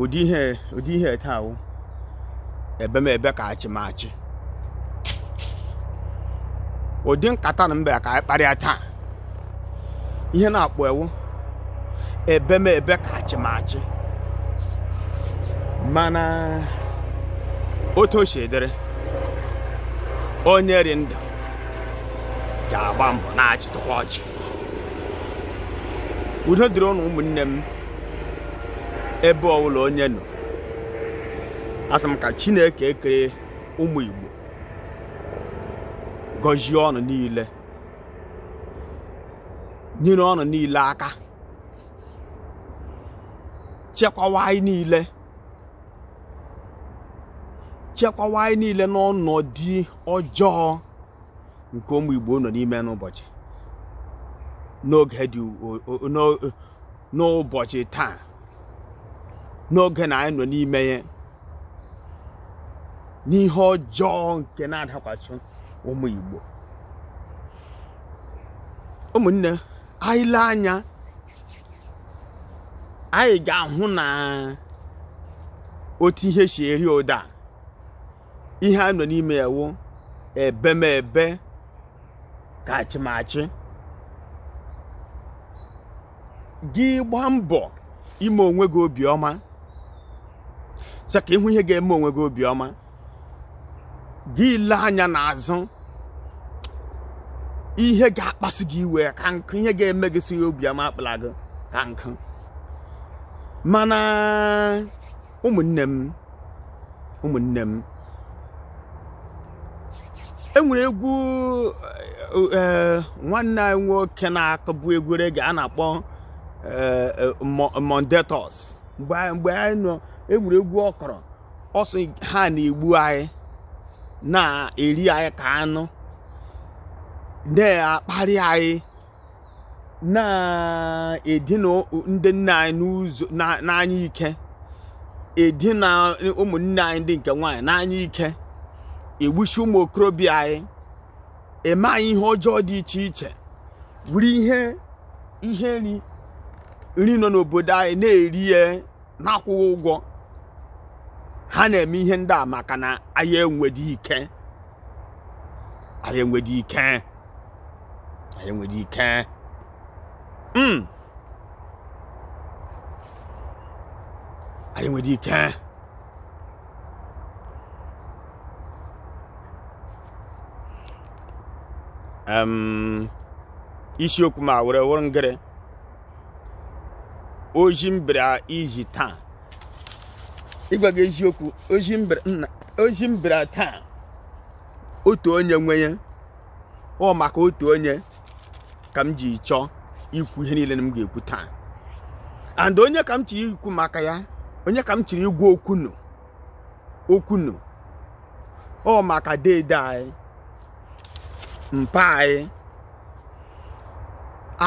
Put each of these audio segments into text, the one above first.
ụdị ihe ụdị ihe taa wụ ebe m ebe ka achị m achị ụdị nkata na m bịa ka anyị kparịa taa ihe a na-akpọ ya wụ ebe m ebe ka achịmachị mana otu o si dịrị onye rị ndụ ga-agba mbọ na-achịtụkwa ọchị udo dịrị ụnụ ụmụnne m ebe ọbụla onye nọ asị m ka chineke ekere ụmụ igbo gọzie ụnụ niile nyere ụnụ niile aka chekwawa anyị niile chekwawa anyị niile n'ọnọdụ ọjọọ nke ụmụ Igbo nọ n'ime n'ụbọchị n'oge dị n'ụbọchị taa n'oge na anyị nọ n'ime ya n'ihe ọjọọ nke na-adakwasị ụmụ Igbo ụmụnne anyị lee anya anyị ga-ahụ na otu ihe si eri ụda ihe a nọ n'ime ya wụ ebemebe ka achịmachị gị gbaa mbọ ime onwe gị obiọma sị ka ị hụ ihe ga-eme onwe gị obiọma gị lee anya n'azụ ihe ga-akpasị gị iwe ka nkụ ihe ga-eme gị sị obiọma akpala gị ka nkụ mana ụmụnne m ụmụnne m enwere egwu eh, eh, nwanne anyị nwoke na-akụbu egwu reggae a na-akpọ eh, Mondetos mgbe ahụ enwere egwu ọ kụrụ ọ sị ha na-egbu anyị na-eri anyị ka anụ na-akparị anyị na-edina ndị nne anyị n'ụzọ n'anya ike edina ụmụnne anyị ndị nke nwaanyị n'anya ike egbuchi ụmụ okorobịa anyị eme anyị ihe ọjọọ dị iche iche buru ihe ihe nri nri nọ n'obodo anyị na-eri ya na-akwụghị ụgwọ ha na-eme ihe ndị a maka na anyị enwedị ike anyị enwedị ike anyị enwedị ike mm. anyị enwedị ike um, isiokwu ma were wụrụ ngịrị ozi m bịara izi taa ịgwa gị eziokwu ozi m bịara- nna ozi m bịara taa otu onye nwe ya ọ maka otu onye ka m ji chọọ ikwu ihe niile m ga-ekwu taa and onye ka m chiri ikwu maka ya onye ka m chiri ịgwa okwu nụ okwu nụ ọ maka deede anyị mpa anyị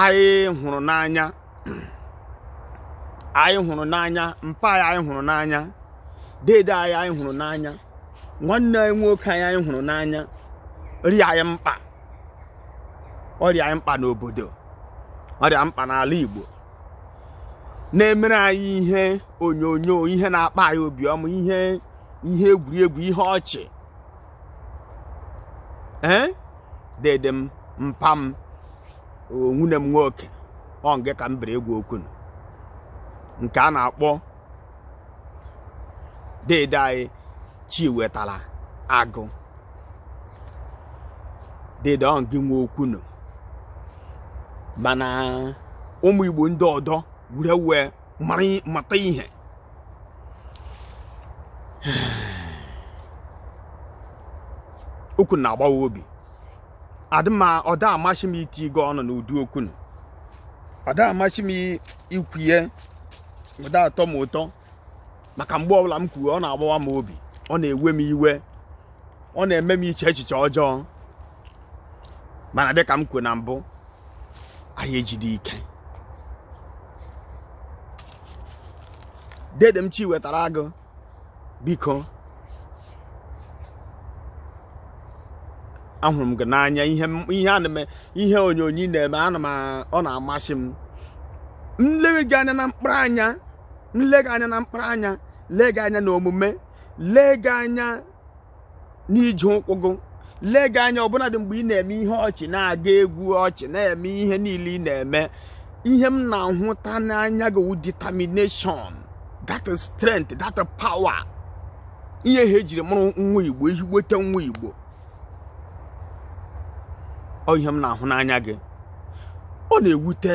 anyị hụrụ n'anya anyị hụrụ n'anya mpa anyị anyị hụrụ n'anya deede anyị anyị hụrụ n'anya nwanne anyị nwoke anyị anyị hụrụ n'anya rị anyị mkpa ọ rị anyị mkpa n'obodo ọ rị anyị mkpa n'ala Igbo na-emere anyị ihe onyonyo ihe na-akpa anyị obiọma ihe ihe egwuregwu ihe ọchị ee dede m mpa m nwanne m nwoke ọ ngị ka m bịara ịgwa okwu nụ nke a na-akpọ dede anyị Chiwetalu Agu dede ọ gị nwe okwu nụ mana ụmụ igbo ndị ọdọ were wee mata ihe okwu na-agbawa obi adị mma ọ da amasị m itinye ọnụ n'ụdị okwu nụ ọ da amasị m ikwu ya ọ da atọ m ụtọ maka mgbe ọbụla m kwuo ọ na-agbawa m obi ọ na-ewe m iwe ọ na-eme m iche echiche ọjọọ mana dịka m kwuo na mbụ anyị ejidi ike dede m Chiwetalu Agu biko ahụrụ m gị n'anya ihe ihe ana m ihe onyonyo ị na-eme ana m ọ na-amasị m m lee gị anya na mkpụrụ anya m lee gị anya na mkpụrụ anya lee gị anya na omume lee gị anya n'ije ụkwụ gị lee gị anya ọbụnadị mgbe ị na-eme ihe ọchị na-aga egwu ọchị na-eme ihe niile ị na-eme ihe m na-ahụta n'anya gị wụ determination that strength that power ihe ha ejiri mụrụ nwa igbo ezigbote nwa igbo ọ ihe m na-ahụ n'anya gị ọ na-ewute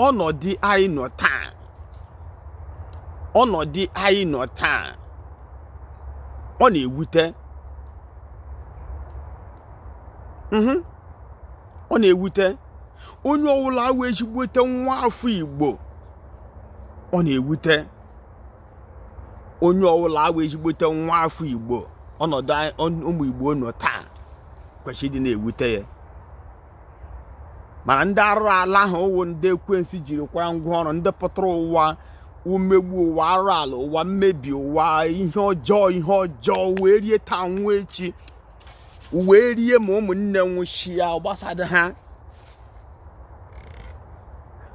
ọnọdụ anyị nọ taa ọnọdụ anyị nọ taa ọ na-ewute mhm. ọ na-ewute onye ọwụla awụ ezigbote nwa afọ Igbo ọ na-ewute onye ọwụla awụ ezigbote nwa afọ Igbo ọnọdụ ụmụ Igbo nọ taa kwesịrị ịdị na-ewute ya mana ndị arụrụ ala ahụ wụ ndị ekwensu jiri kwara ngwa ọrụ ndị pụtara ụwa umegbu ụwa arụrụ ala ụwa mmebi ụwa ihe ọjọọ ihe ọjọọ ụwa erie taa anwụ echi ụwa erie ma ụmụnne nwụsịa gbasada ha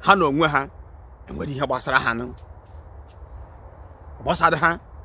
ha na onwe ha enwere ihe gbasara ha gbasara ha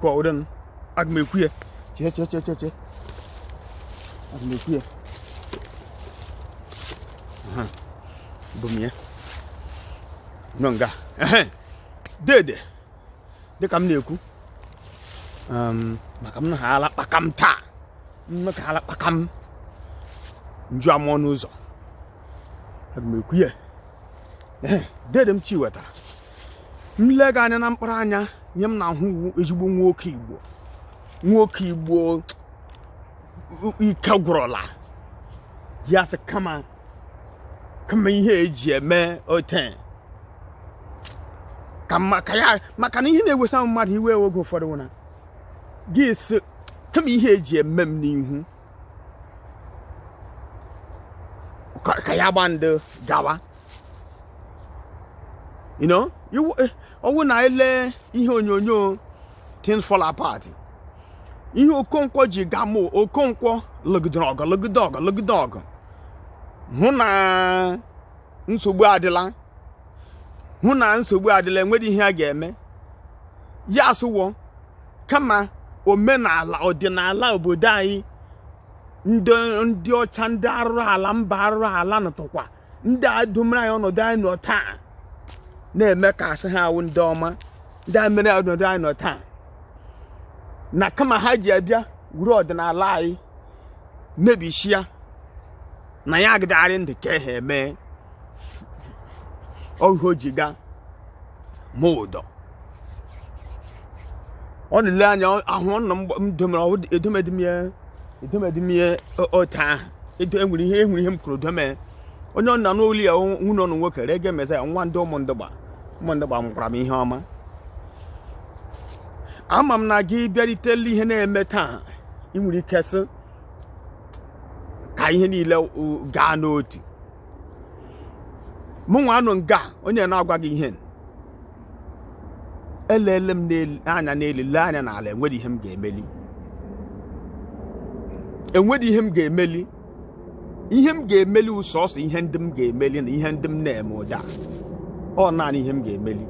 kwa ụdịn aga m ekwu ya chee chee chee chee chee aga m ekwu ya Aha, bụ m ya nọ nga ehe dede dịka m na-ekwu um, maka m na ha ala kpaka m taa mme ka ala kpaka m nju ama ọnụ ụzọ aga m ekwu ya ehe dede m chi wetara m lee gị anya na mkpụrụ anya onye m na-ahụ wụ ezigbo nwoke igbo nwoke igbo ike gwụrụla ya sị kama kama ihe eji eme ote ka maka ya maka na ihe na-ewesa mmadụ iwe oge ụfọdụ wụ na gị sị kama ihe eji eme m n'ihu ka ya gba ndị gawa you know ọwụ na i lee ihe onyonyo things fall apart ihe okonkwo ji gamụ okonkwo lụgide ọgụ lụgide ọgụ lụgide ọgụ hụ na nsogbu adịla hụ na nsogbu adịla enwere ihe ya ga-eme ya sị wo kama omenala ọdịnala obodo anyị ndị ọcha ndị arụrụ ala mba arụrụ ala nọtụkwa ndị a domere anyị ọnọdụ anyị nọ taa na-eme ka asị ha awụ ndị ọma ndị a mere ọnọdụ anyị nọ taa na kama ha ji abịa wuru ọdịnala anyị mebisia na ya agịdagharị ndị ka ha eme oge o ji gaa ma ụdọ ọ na-ele anya ahụ ọ nọ mdomere edomedimie edomedimie otu ahụ edo enwere ihe enwere ihe m kwuru dome onye ọ nọ n'ụlọ ya nwunye ọnụ nwoke rege meza ya nwa ndị ụmụ ndị Igbo mụkwara m ihe ọma ama m na gị bịaritela ihe na-eme taa ị nwere ike sị ka ihe niile gaa n'otu mụnwa nọ nga onye na-agwa gị ihe elele m anya n'elu lee anya n'ala enweghị ihe m ga-emeli enweghị ihe m ga-emeli ihe m ga-emeli ọ sọsọ ihe ndị m ga-emeli na ihe ndị m na-eme ugbu a ọ naanị ihe m ga-emeli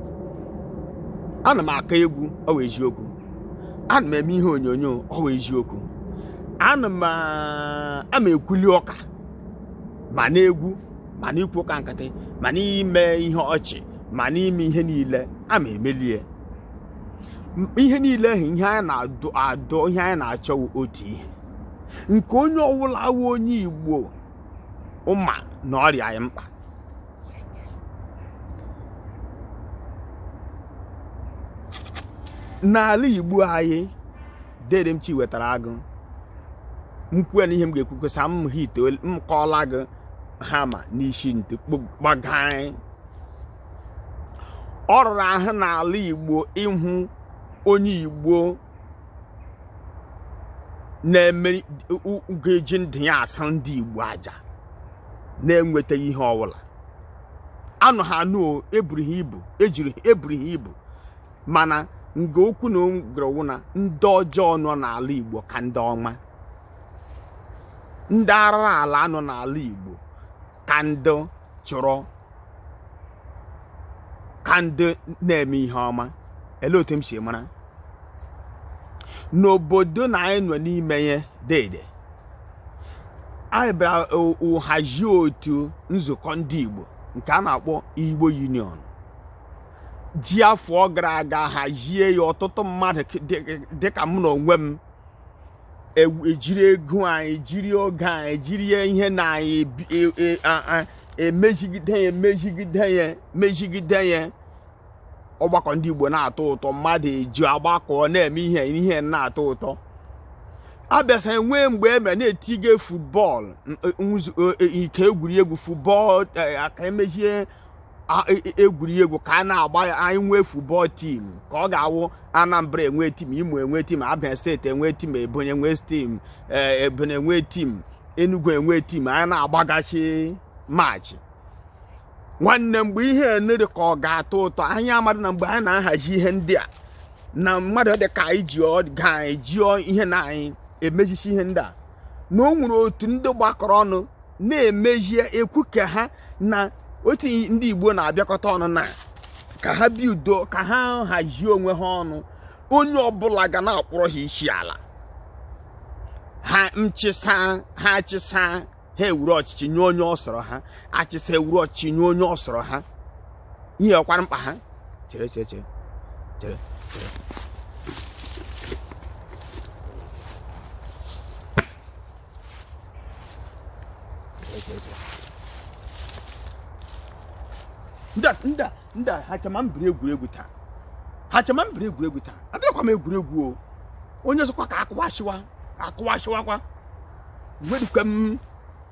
ana m akụ egwu ọ wụ eziokwu ana m eme ihe onyonyo ọ wụ eziokwu ana m ama ekwuli ụka ma n'egwu ma n'ikwu ụka nkịtị ma n'ime ihe ọchị ma n'ime ihe niile ama emelie ihe niile ahụ ihe anyị na-adụ adụ ihe anyị na-achọ wụ otu ihe nke onye ọwụla wụ onye igbo ma na ọ rị anyị mkpa n'ala igbo anyị dede m Chiwetara Agụ m kwuo na ihe m ga-ekwukwesa m ha ite m kọọla gị hama n'isi ntị gbagaị ọ rụrụ ahụ n'ala igbo ịhụ onye igbo na-eme ga-eji ndụ ya achụrụ ndị Igbo aja na-enwetaghị ihe ọbụla anụ ha anụ eburu ha ibu ejiri ha eburu ha ibu mana nga okwu na-agara wụ na ndị ọjọọ nọ n'ala Igbo ka ndị ọma ndị arụrụala nọ n'ala Igbo ka ndị chọrọ ka ndị na-eme ihe ọma ele otu m si mara n'obodo na anyị nọ n'ime ya dede anyị bịara hazie otu nzukọ ndị Igbo nke a na-akpọ Igbo Union ji afọ gara aga hazie ya ọtụtụ mmadụ dịka mụ na onwe m ejiri e ego anyị jiri oge anyị jiri ihe na anyị emezigide e, e, ya emezigide ya mezigide ya ọgbakọ ndị Igbo na-atọ ụtọ mmadụ eji agbakọ na-eme ihe ihe na-atọ ụtọ a bịaziri nwee mgbe e mere na-etinye football nke egwuregwu football ka e mezie e, e, egwuregwu ka a na-agba anyị nwee futbọl tim ka ọ ga-awụ Anambra enwe tim Imo enwe tim Abia steeti enwe tim Ebonyi enwe tim e, Ebonyi enwe tim Enugu enwe tim anyị na-agbagachi maachị nwanne mgbe ihe na-arị ka ọ ga-atọ ụtọ anyị amadị na mgbe anyị na-ahazi ihe ndị a na mmadụ dị ka anyị ji ga anyị ji ihe na anyị emezisi ihe ndị a na o nwere otu ndị gbakọrọ ọnụ na-emezi ekwu ka ha na otu ndị Igbo na-abịakọta ọnụ na ka ha bi udo ka ha hazie onwe ha ọnụ onye ọbụla ga na-akpọrọ ha isi ala ha nchịsa ha achịsa ha ewuru ọchịchị nye onye ọ sọrọ ha achịsa ewuru ọchịchị nye onye ọ sọrọ ha ihe ọkwara mkpa ha chere chere chere chere chere nda nda nda ha chama m biri egwuregwu taa ha chama m biri egwuregwu taa abịakwa m egwuregwu o onye ọzọkwa ka akụwasịwa akụwasịwakwa nwedikwa m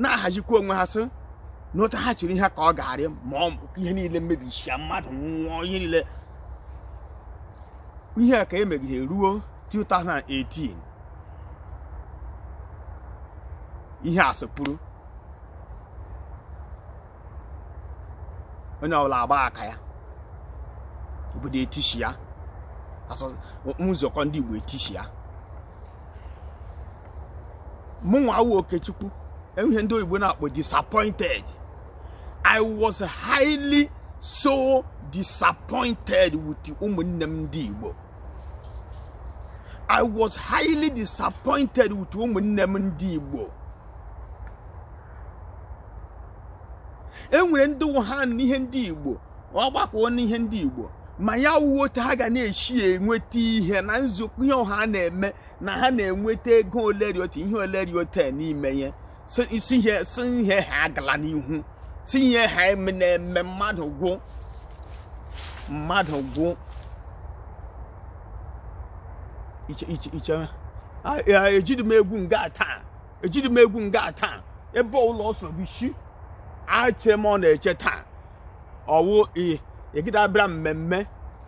na-ahazikwa onwe ha sị na otu ha chiri ihe ka ọ ga-arị mma ihe niile emebisịa mmadụ nwụọ ihe niile ihe a ka emegide ruo 2018 ihe a sịpụrụ onye ọbụla agba aka ya obodo etisịa nzukọ ndị Igbo etisịa mụnwa awụ okechukwu enwe ihe ndị oyibo na-akpọ disappointed i was highly so disappointed with ụmụnne m ndị igbo i was highly disappointed with ụmụnne m ndị igbo enwere ndị wụ ha na ihe ndị igbo ọ gbakwuo n'ihe ndị Igbo ma ya wụ otu ha ga na-esi enweta ihe na nzukọ ihe ọha na-eme na ha na-enweta ego oleriota ihe oleriota n'ime ya si ihe ha agala n'ihu si ihe ha na-eme mmadụ gwụ mmadụ gwụ iche iche iche ejiri m egwu nga taa ejiri m egwu nga taa ebe ụlọ ọsọ bụ isi ache m ọ na-eche taa ọwụ egide abịara mmemme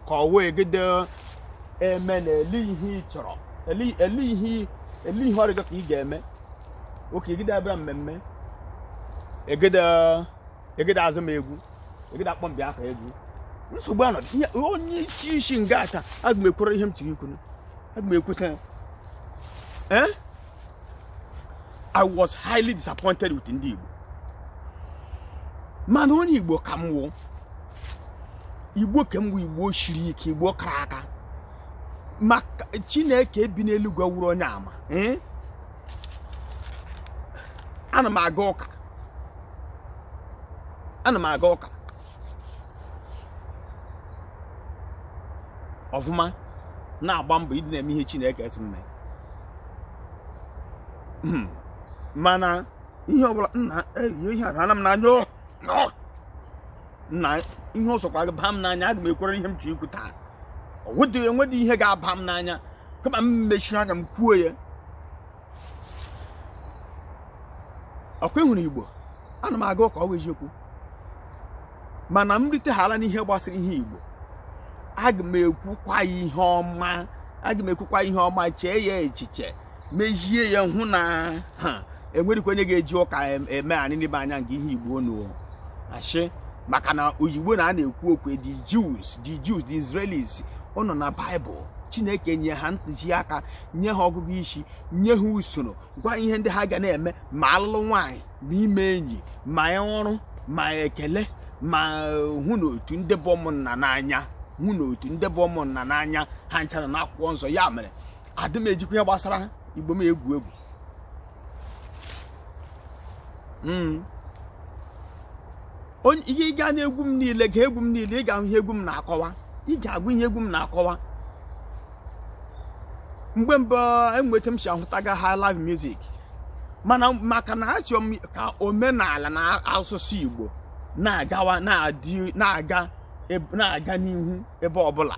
ka ọwụ egide eme na ele ihe ị chọrọ ele ihe ele ihe ọ rị gị ka ị ga-eme oke egide abịara mmemme egide egide azi m egwu egide akpọ mbịa aka egwu nsogbu anọdị onye isi isi nga taa aga m ekwuru ihe m chọrọ ikwu aga m ekwuta ya ee I was highly disappointed with ndị Igbo mana onye Igbo ka m wụ Igbo ka m wụ Igbo shiri ike Igbo kara aka maka Chineke bi n'eluigwe wụrụ onye ama eh? ana m aga ụka ana m aga ụka ọfụma na-agba mbọ ịdị na-eme ihe Chineke sị m mee hmm. mana ihe ọbụla nna ihe ihe ara m n'anya oh, oh. nna ihe ọ sọkwa ba m n'anya aga m ekwuriri ihe m chọ ikwu taa ọ wụdị enwedị ihe ga-aba m n'anya kama m mechie anya m kwuo ya ọkwa ịhụrụ igbo ana m aga ụka ọ wụ eziokwu mana m rutehala n'ihe gbasara ihe igbo aga m ekwukwa ya ihe ọma aga m ekwukwa ihe ọma chee ya echiche mezie ya hụ na enweghịkwa onye ga-eji ụka eme anyị n'ime anya nke ihe igbo nu ashị maka na oyigbo na a na-ekwu okwu the Jews the Jews the Israelis ọ nọ na Bible Chineke nye ha ntụziaka nye ha ọgụgụ isi nye ha usoro gwa ihe ndị ha ga na-eme ma alụlụ nwaanyị ma ime enyi ma ọrụ ma ekele ma hụ na otu ndị bụ ụmụnna n'anya hụ na otu ndị bụ ụmụnna n'anya ha ncha rị na akwụkwọ nsọ ya mere adị m ejikwa ihe gbasara igbo m egwu egwu hmm. ihe ị gaa n'egwu m niile gee egwu m niile ị ga-ahụ ihe egwu m na-akọwa ị ga-agụ ihe egwu m na-akọwa mgbe mbụ enwe otu m si ahụtaga highlife music mana maka na asị m ka omenala na asụsụ Igbo na-agawa na-aga na-aga n'ihu ebe ọbụla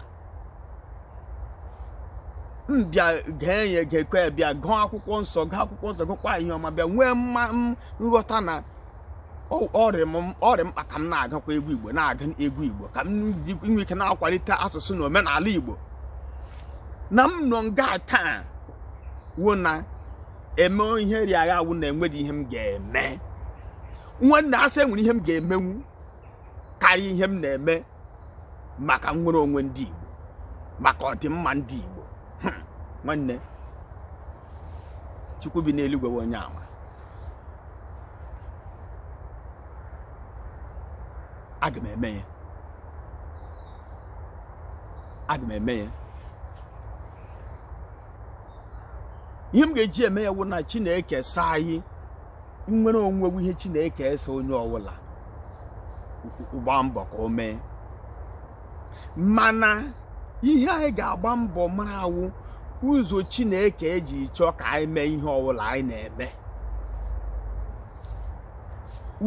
m bịa gee ya gekwe bịa gụọ akwụkwọ nsọ gụọ akwụkwọ nsọ gụkwa ihe ọma bịa nwee nghọta na ọ rị mkpa ka m na-agụkwa egwu igbo na-agụ egwu igbo ka m nwee ike na-akwalite asụsụ na omenala igbo na m nọ nga taa wụ na eme ihe rị agha awụ na enweghị ihe m ga-eme nwanne asị enwere ihe m ga-emenwu karịa ihe m na-eme maka nnwere onwe ndị Igbo maka ọdịmma ndị Igbo hmm, nwanne Chukwu bi n'eluigwe wụ onye ama aga m eme ya aga m eme ya ihe m ga-eji eme ya wụ na Chineke sị anyị nnwere onwe wụ ihe chineke sị onye ọwụla gbaa mbọ ka o mee mana ihe anyị ga-agba mbọ mara wụ ụzọ chineke eji chọọ ka anyị mee ihe ọwụla anyị na-eme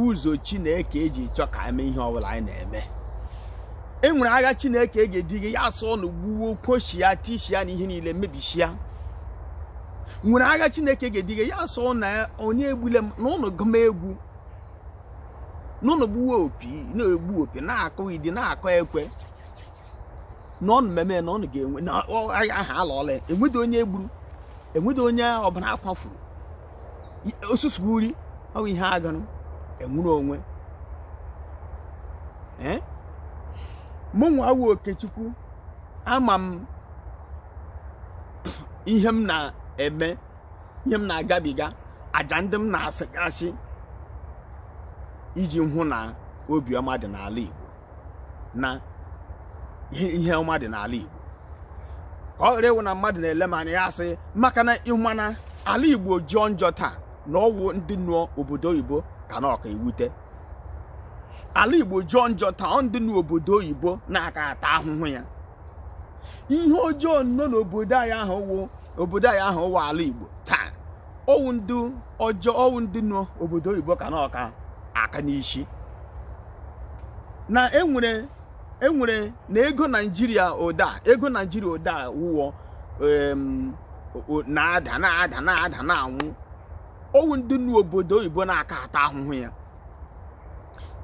ụzọ chineke eji chọọ ka anyị mee ihe ọwụla anyị na-eme e nwere agha chineke ga-ediga ya asị ụnụ gbuo kụshịa tishia na ihe niile mebishia nwere agha chineke ga-ediga ya sị na onye egbule m na ụnụ gụma egwu n'ụnụ gbuwe opi na-egbu opi na-akụ idi na-akụ ekwe na ụnụ mmemme na ụnụ ga-enwe na agha ahụ alọọla ya enwedị onye egburu enwedị onye ọbara akwafuru ọ sọsọ uri ọ bụ ihe agụrụ enwere onwe ee mụ nwa wụ okechukwu ama m ihe m na-eme ihe m na-agabiga aja ndị m na-achụgasị iji hụ na obiọma dị n'ala Igbo na ihe ọma dị n'ala Igbo ka ọ ghara ịwụ na mmadụ na-ele m anya ya asị maka na ị ma na ala Igbo jọọ njọ taa na ọwụ ndị nọ obodo oyibo ka na-aka ewute ala Igbo jọọ njọ taa ọ ndị nọ obodo oyibo na-aka ata ahụhụ ya ihe ọjọọ nọ n'obodo anyị ahụ wụ obodo anyị ahụ wụ ala Igbo taa ọwụ ndị ọjọọ ọwụ ndị nọ obodo oyibo ka na-aka aka n'isi na enwere enwere na ego Naijiria ụda ego Naijiria ụda wụ ọ na-ada na-ada na-ada na-anwụ ọwụ ndị nọ obodo oyibo na-aka ata ahụhụ ya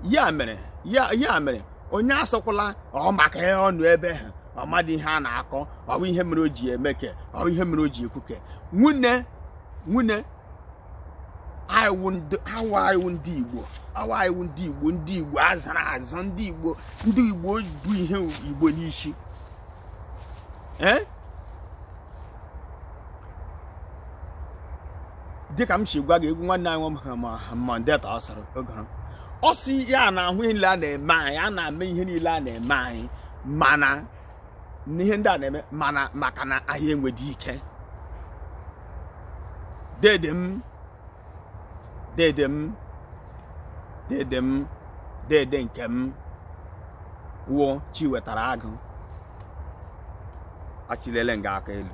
ya mere ya ya mere onye asịkwala ọ maka ihe ọ nọ ebe ha ọ madị ihe a na-akọ ọ bụ ihe mere o ji eme ke ọ bụ ihe mere o ji ekwu ke nwanne nwanne awụ ndị awụ awụ ndị igbo awụ awụ ndị igbo ndị igbo azụrụ azụ ndị igbo ndị igbo bu ihe igbo n'isi ee dịka m si gwa gị egwu nwanne anyị nwoke ma mandeta ọ sọrọ oge ha ọ sị ya na-ahụ ihe niile a na-eme anyị a na-eme ihe niile a na-eme anyị mana n'ihe ndị a na-eme mana maka na anyị enweghị ike dede m dede m dede m dede nke m wụ chiwetara agụ achịleele m gị aka elu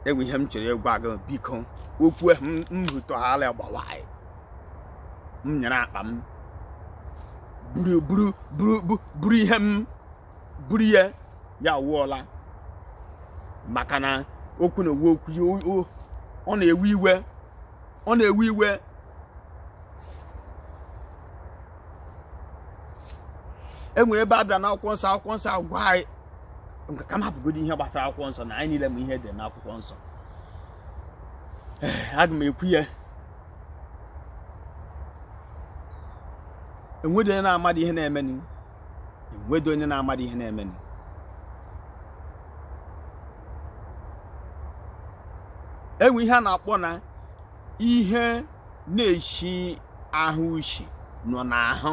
enwe ihe m chọrọ ịgwa gị biko okwu ahụ m- m hụtọghala gbawa anyị m nyere akpa m buru buru buru bu- buru ihe m buru ya ya wụọla maka na okwu na-ewu okwu ya o- o- ọ na-ewe iwe ọ na-ewe iwe enwere ebe a bịara n'akwụkwọ nsọ akwụkwọ nsọ agwa anyị ka m hapụgodo ihe gbasara akwụkwọ nsọ na anyị niile ma ihe dị n'akwụkwọ nsọ eh, aga m ekwu ya enwedị onye na-amadị ihe na-emenụ enwedị onye na-amadị ihe na-emenụ enwe ihe a na-akpọ na ihe na-eshi ahụ ushi nọ n'ahụ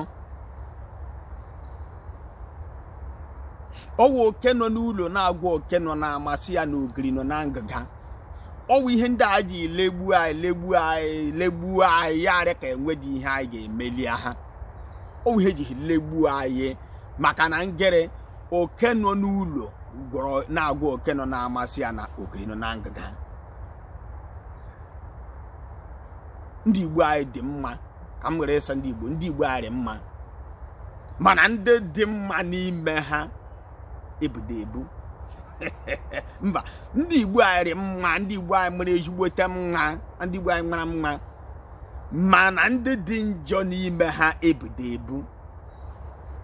ọ wụ oke nọ n'ụlọ na-agwa oke nọ n'ama sị ya na ogiri nọ na ngịga ọ wụ ihe ndị a ji legbuo anyị legbuo anyị legbuo anyị ya arị ka enwedị ihe anyị ga-emeli ha ọ wụ ihe ejiri legbuo anyị maka na ngịrị oke nọ n'ụlọ gwọrọ na-agwa oke nọ n'ama sị ya na ogiri nọ na ngịga ndị igbo anyị dị mma ka m were sị ndị igbo ndị igbo anyị dị mma mana ndị dị mma n'ime ha ebudo ebu mba ndị igbo anyị dị mma ndị igbo anyị mara ezigbote mma ndị igbo anyị mara mma mana ndị dị njọ n'ime ha ebudo ebu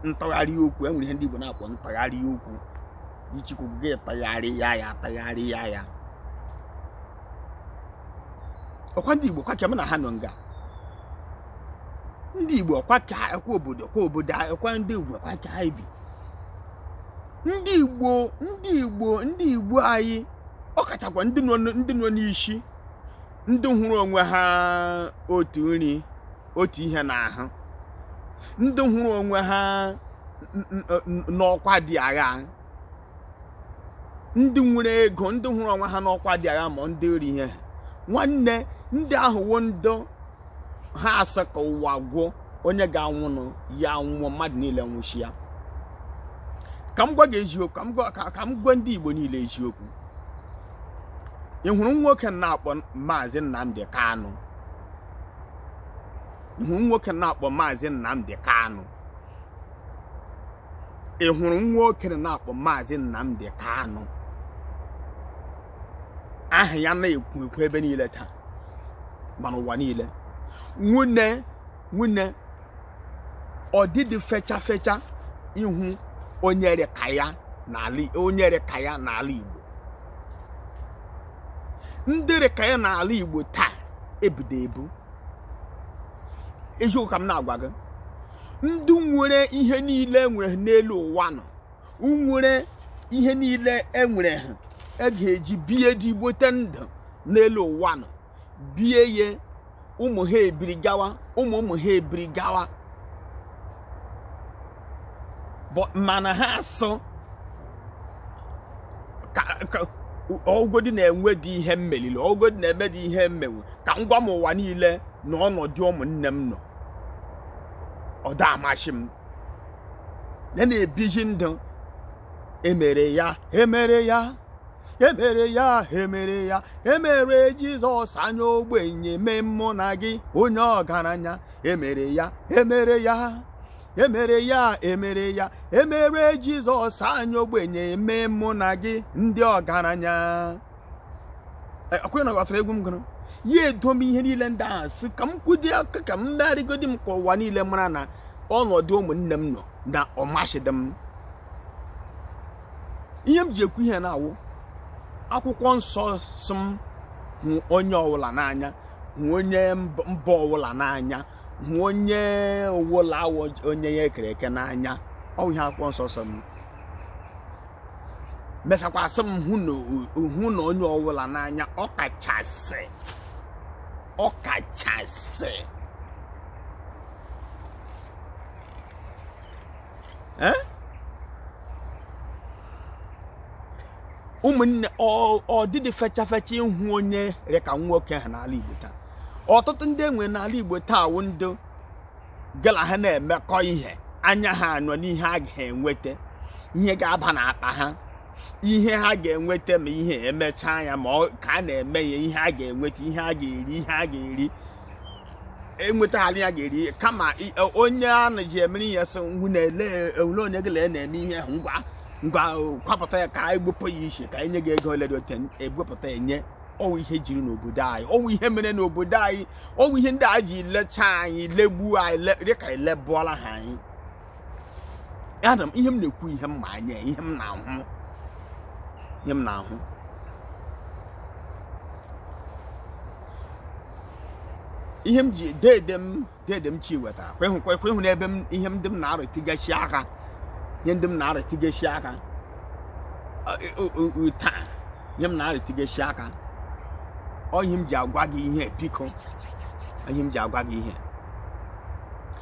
ntagharị okwu enwere ihe ndị Igbo na-akpọ ntagharị okwu ị chọọ ikwu gị tagharịa ya tagharịa ya ọkwa ndị Igbo kwa ka m na ha nọ nga ndị Igbo kwa ka obodo kwa obodo ọkwa ndị Igbo kwa ka anyị bi ndị Igbo ndị Igbo ndị Igbo anyị ọ kachakwa ndị nọ n'isi ndị hụrụ onwe ha otu nri otu ihe n'ahụ ndị hụrụ onwe ha n'ọkwa dị agha ndị nwere ego ndị hụrụ onwe ha n'ọkwa dị agha ma ndị ori ihe ha nwanne ndị ahụ wụ ndị ha asị ka ụwa gwụ onye ga-anwụnụ ya nwụọ mmadụ niile nwụshịa ka m gwa gị eziokwu ka m gwa ndị Igbo niile eziokwu ị hụrụ nwoke na-akpọ maazị Nnamdi Kanu ị hụrụ nwoke na-akpọ maazị Nnamdi Kanu ị hụrụ nwoke na-akpọ maazị Nnamdi Kanu aha ya na-ekwu ekwu ebe niile taa ma n'ụwa niile nwunye nwunye ọ dịdị fecha fecha ị hụ onye rị ka ya n'ala Igbo ndị rị ka ya n'ala Igbo taa ebudo ebu eziokwu ka m na-agwa gị ndị nwere ihe niile e nwere n'elu ụwa nụ nwere ihe niile enwere ha e ga-eji bie ezigbote ndụ n'elu ụwa nụ bie ya ụmụ ha ebiri gawa ụmụ ụmụ ha ebiri gawa mana ha asị ọ wụgodi na enwedị ihe m meliri ọ wụgodi na emedị ihe m menwu ka m gwa m ụwa niile na ọnọdụ ụmụnne m nọ ọ da amasị m ya na-ebiji ndụ emere ya emere ya emere ya emere ya emere jizọs onye ogbenye mee mụ na gị onye ọgaranya emere ya emere ya emere ya emere ya emere jizọs onye ogbenye mee mụ na gị ndị ọgaranya ọ kwa ụnụ ghọtara egwu m gụrụ ya edo m ihe niile ndị ahụ sị ka m kwụdị aka ka m megharịgodi m ka ụwa niile mara na ọnọdụ ụmụnne m nọ na ọ masịdị m ihe m ji ekwu ihe na-awụ akwụkwọ nsọ sị m hụ onye ọwụla n'anya hụ onye mba ọwụla n'anya hụ onye ọwụla wụ onye ya kere eke n'anya ọ wụ ihe akwụkwọ nsọ sị m mee sịkwa sị m hụ na onye ọwụla n'anya ọ kachasị ọ kachasị eh? ụmụnne ọ dịdị fecha fecha ịhụ onye rị ka nwoke a n'ala Igbo taa ọtụtụ ndị enwere n'ala Igbo taa wụ ndị gị la ha na-emekọ ihe anya ha anọ n'ihe a ga-enweta ihe ga-aba n'akpa ha ihe ha ga-enweta ma ihe emechaa ya ma ka a na-eme ya ihe a ga-enweta ihe a ga-eri ihe a ga-eri enwetaghara ya ga-eri kama i- e, onye a na-eji emere ihe sị ngwa na-ele ele onye gị la ya na-eme ihe ahụ ngwa ngwa o, kwapụta ya ka anyị gbupụ ya ishi ka anyị nye gị ego ole dị otu egbupụta ya enye ọwụ ihe jiri n'obodo anyị ọwụ ihe mere n'obodo anyị ọwụ ihe ndị a ji lecha anyị legbuo anyị le- dị ka anyị legbuola ha anyị ama m ihe m na-ekwu ihe m ma anya ihe m na-ahụ ihe m na-ahụ ihe m ji deede m deede m Chiwetara kwehụkwa ekwehụ n'ebe m ihe ndị m na-arụtụgashị aka ihe ndị m na-arụtụgashị aka taa ihe m na-arụtụgashị aka ọ ihe m ji agwa gị ihe biko ihe m ji agwa gị ihe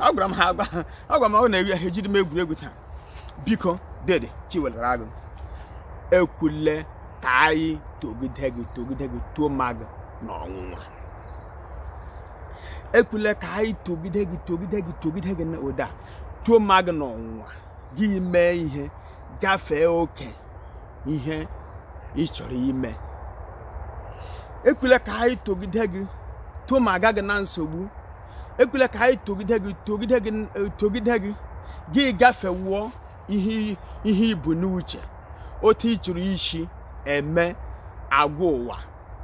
agwara m ha agwa agwa m ọ na-ewi ahụ ejidị m egwuregwu taa biko dede Chiwetara Agụ ekwela ka anyị togide gị togide gị tomaa gị na ọnwụnwa ekwela ka anyị togide gị togide gị togide gị na ụda tomaa gị n'ọnwụnwa gị mee ihe gafee oke ihe ị chọrọ ime ekwela ka anyị togide gị tomaaga gị na nsogbu ekwela ka anyị togide gị togide gị togide gị gị gafewuo ihe ihe i bu n'uche otu ị chọrọ isi eme agwa ụwa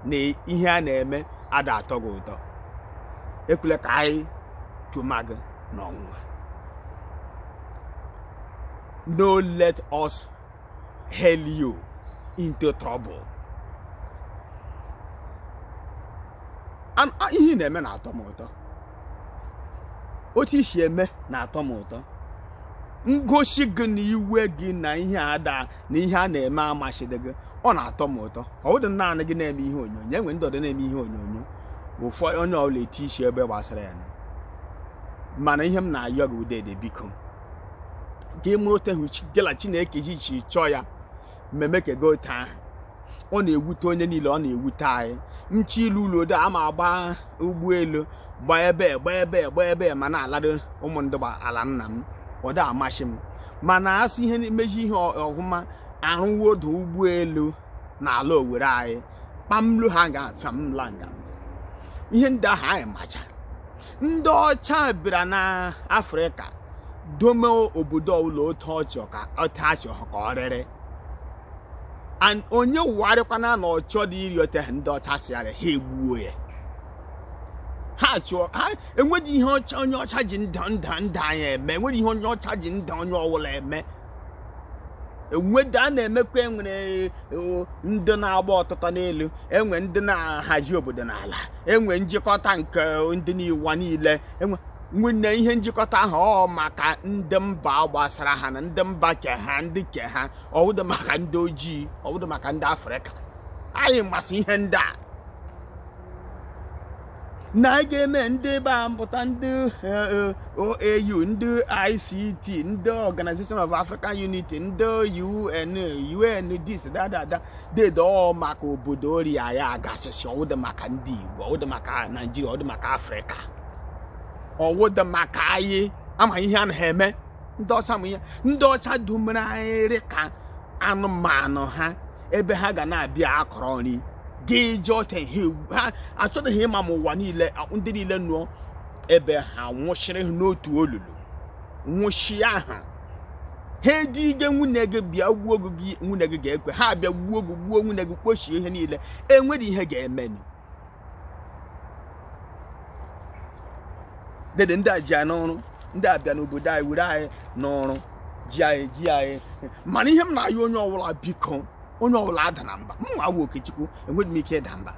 na ihe a na-eme ada atọ gị ụtọ ekwela ka anyị tomaa gị n'ọnwụnwa no let us hail you into trouble An- a- ihe ị na-eme na-atọ m ụtọ otu i si eme na-atọ m ụtọ ngosi gị na iwe gị na ihe a da na ihe a na-eme amasịdị gị ọ na-atọ m ụtọ ọ bụdị naanị gị na-eme ihe onyonyo enwe ndị ọdọ na-eme ihe onyonyo ụfọdụ onye ọbụla eti isi ebe gbasara ya mana ihe m na-ayọ gị wụ dede biko gị mee ote ahụ gị na Chineke gị si chọọ ya mmemme ka gị ote ahụ ọ na-ewute onye niile ọ na-ewute anyị ncha ile ụlọ ode ama agba ụgbọelu gba ebe gba ebe gba ebe ma na-alado ụmụ ndị ala nna m ọ da amasị m mana asị ihe mezi ihe ọfụma arụwo ọdụ ụgbọelu n'ala Owerri anyị kpamlu ha ga famla nga ihe ndị ahụ anyị macha ndị ọcha bịara na afrịka dome obodo ọbụla otu ọ chọ ka otu achọ ka ọ rịrị and onye wụgharịkwana na ọ chọdị ịrị ote ndị ọcha sịara ha egbuo ya ha chụọ ha enwedị ihe ọcha onye ọcha ji nda nda ndụ anyị eme enwedị ihe onye ọcha ji ndụ onye ọbụla eme enweda a na-emekwa enwere e, ndị na-agba ọtụtụ n'elu enwe ndị na-ahazi obodo n'ala enwe njikọta nke ndị n'ụwa niile enwe nwanne ihe njikọta ahụ ọ maka ndị mba gbasara ha na ndị mba ke ha ndị ke ha ọ wụdị maka ndị ojii ọ wụdị maka ndị afrịka anyị masị ihe ndị a na a ga-eme ndị ebe a mpụta ndị eh, OAU ndị ICT ndị Organization of African Unity ndị UN UN dis dadada dede ọ maka obodo ori anyị agasịsị ọ wụdị maka ndị Igbo ọ wụdị maka Naijiria ọ wụdị maka Afrịka ọwụdụ maka anyị ama ihe a na-eme ndị ọcha ma ihe ndị ọcha dumere anyị ka anụmanụ ha ebe ha ga na-abịa akọrọ nri gị ji ọka ha achọghị ịma ma ụwa niile ndị niile nọ ebe ha nwụchiri n'otu olulu nwụchi ahụ ha edige nwunye gị bịa gbuo gị nwunye gị ga-ekwe ha bịa gbuo gị gbuo nwunye gị kpochie ihe niile i nwere ihe ga-emenụ dede ndị a ji anyị n'oru ndị a bịa n'obodo anyị were anyị n'oru ji anyị ji anyị mana ihe m na-ayọ onye ọbụla biko onye ọbụla adana mba m nwa wụ okechukwu enweghị m ike ịda mba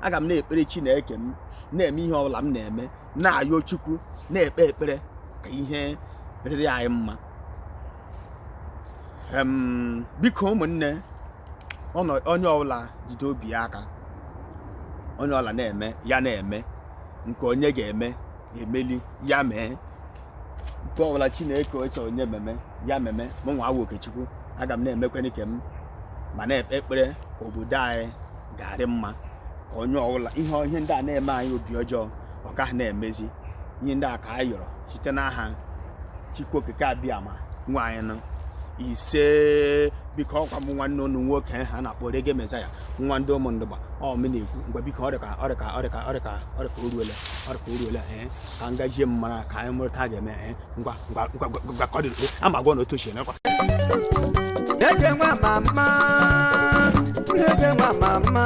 aga m na-ekpere chineke m na-eme ihe ọbụla m na-eme na-ayọ chukwu na-ekpe ekpere ka ihe rịrị anyị mma biko ụmụnne onye ọbụla jide obi ya aka onye ọbụla na-eme ya na-eme nke onye ga-eme emeli ya mee nke ọbụla chineke sị onye meme ya meme mụ nwa wụ okechukwu aga m na-emekwa nke m ma na-ekpe ekpere ka obodo anyị ga-arị mma ka onye ọbụla ihe ihe ndị a na-eme anyị obi ọjọọ ọ gaghị na-emezi ihe ndị a ka anyị yọrọ site n'aha chukwu okike abịama nwe anyị isee biko ọkwa m nwanne unu nwoke ha na-akpọ Reggae Messiah nwa ndị Ụmụndụgba ọ mụ na-ekwu ngwa biko ọrịka ọrịka ọrịka ọrịka ọrịka o ruola ọrịka o ruola ee ka m gajie m mara ka anyị mụrụ ka a ga-eme ee ngwa ngwa ngwa ngwa ka ọ dị ama gwa na otu ochie nakwa Dede nwa mama, dede nwa mama.